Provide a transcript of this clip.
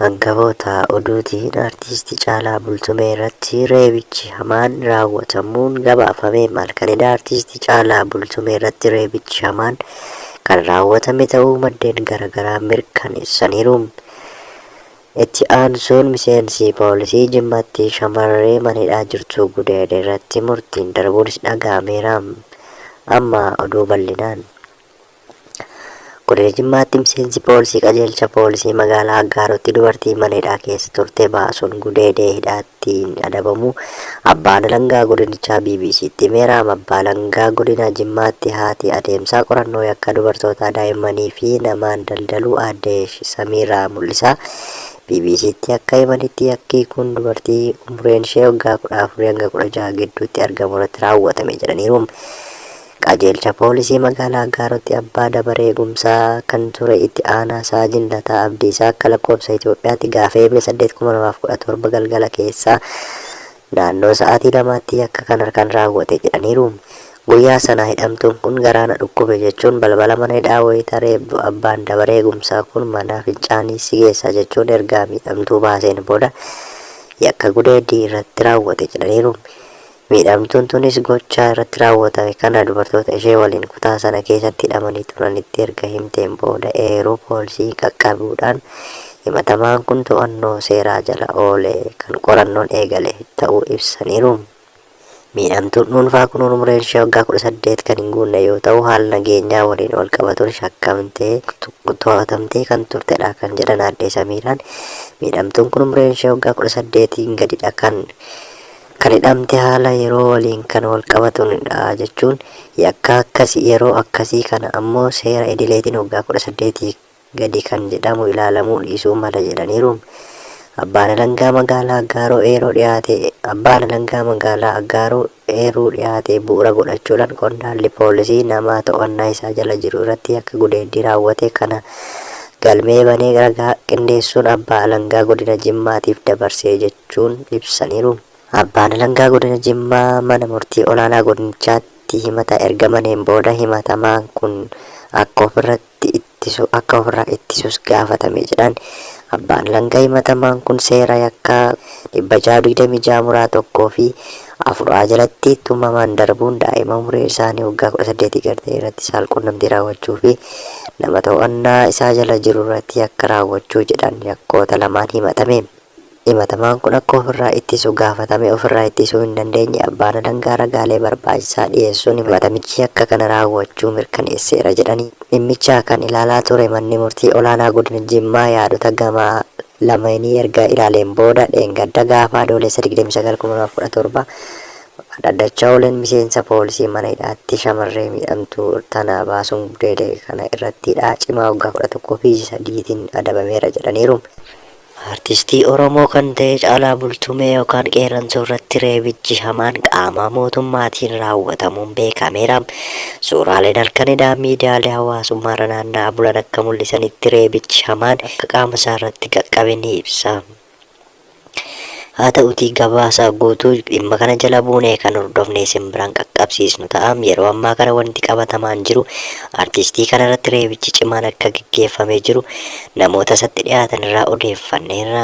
Angawoota oduutiin Artiisti Caalaa Bultumee irratti reebichi hamaan raawwatamuun gabaafame. Halkan eda Artiisti Caalaa Bultumee irratti reebichi hamaan kan raawwatame ta'uu maddeen garagaraa mirkaneessaniiru. Itti aansuun miseensi poolisii Jimmaatti shamarree mana hidhaa jirtu gudeede irratti murtiin darbuunis dhaga'ameera. Amma oduu bal'inaan. Godina Jimmaatti miseensi poolisii qajeelcha poolisii magaalaa Aggaaruutti dubartii mana hidhaa keessa turte baasuun gudeedee hidhaattiin adabamu abbaan alangaa godinichaa BBC'tti himeera. Abbaa alangaa godina Jimmaatti haati adeemsaa qorannoo yakka dubartootaa daa'immanii fi namaan daldaluu aadde Samiiraa Mul'isaa BBC'tti akka himanitti yakki kun dubartii umuriin ishee waggaa 14 hanga 16 gidduutti argamu irratti raawwatame jedhaniiru. Qajeelcha Poolisii Magaalaa Aggaarootti Abbaa Dabaree Eegumsaa kan ture Itti Aanaa Saajin Lataa Abdiisaa akka lakkoofsa Itiyoophiyaatti gaafa Eebla 8/2017 galgala keessaa naannoo sa'aatii lamaatti yakka kan harkaan raawwate jedhaniiru. Guyyaa sana hidhamtuun kun garaa na dhukkube jechuun balbala mana hidhaa wayita reebdu Abbaan Dabaree Eegumsaa kun mana fincaanii si geessa jechuun ergaa miidhamtuu baaseen booda yakka gudeeddii irratti raawwate jedhaniiru. Miidhamtuun tunis gochaa irratti raawwatame kana dubartoota ishee waliin kutaa sana keessatti hidhamanii turanitti erga himteen booda eeruu poolisii qaqqabuudhaan himatamaan kun to'annoo seeraa jala oole kan qorannoon eegale ta'uu ibsaniiru. Miidhamtuun dhuunfaa kun umriin ishee waggaa 18 kan hin guunne yoo ta'u haala nageenyaa waliin walqabatuun shakkamtee to'atamtee kan turtedha kan jedhan aadde Samiiraan miidhamtuun kun umriin ishee waggaa 18n gadidha kan Kan hidhamte haala yeroo waliin kan walqabatuun dha jechuun yakkaa akkasi yeroo akkasii kana ammoo seera idileetiin waggaa 18 gadi kan jedhamu ilaalamuu dhiisuu mala jedhaniiru. Abbaan Alangaa Magaalaa Aggaaroo Eeroo dhiyaate Abbaan Alangaa Magaalaa Aggaaroo eeruu dhiyaate bu'ura godhachuudhaan qondaalli poolisii namaa to'annaa isaa jala jiru irratti yakka gudeeddii raawwate kana galmee banee ragaa qindeessuun Abbaa Alangaa Godina Jimmaatiif dabarsee jechuun ibsaniiru. Abbaan Alangaa Godina Jimmaa Mana Murtii Olaanaa Godinichaatti himata erga baneen booda himatamaan kun akka ofirratti ittisu akka ofirraa ittisus gaafatame jedhan Abbaan Alangaa himatamaan kun seera yakkaa 626 muraa 1 fi 4 A jalatti tumaman darbuun daa'ima umuriin isaanii waggaa 18 gad ta'e irratti saalqunnamtii raawwachuu fi nama to'annaa isaa jala jiru irratti yakka raawwachuu jedhan yakkoota lamaan himatame. Himatamaan kun akka ofirraa ittisu gaafatamee ofirraa ittisuu hin dandeenye abbaan alangaa ragaalee barbaachisaa dhiyeessuun himatamichi yakka kana raawwachuu mirkaneesseera jedhanii dhimmicha kan ilaalaa ture manni murtii olaanaa godina Jimmaa yaadota gama lameenii erga ilaaleen booda dheengadda gaafa Adoolessa 29/2017 dhaddacha ooleen miseensa poolisii mana hidhaatti shamarree miidhamtuu tana baasuun gudeede kana irratti hidhaa cimaa waggaa 11 fi ji'a 3 tiin adabameera jedhaniiru. Artistii Oromoo kan ta'e Caalaa Bultumee yookaan Qeerransoo irratti reebichi hamaan qaamaa mootummaatiin raawwatamuun beekameera. Suuraaleen halkan edaa miidiyaalee hawaasummaa irra naanna'aa bulan akka mul'isanitti reebichi hamaan akka qaama isaa irratti qaqqabe ni ibsa. Haa ta'utii gabaasa guutuu dhimma kana jala buunee kan hordofne isin biraan qaqqabsiisnu ta'a. Yeroo ammaa kana wanti qabatamaan jiru artistii kana irratti reebichi cimaan akka geggeeffamee jiru namoota isatti dhiyaatan irraa odeeffanneerra.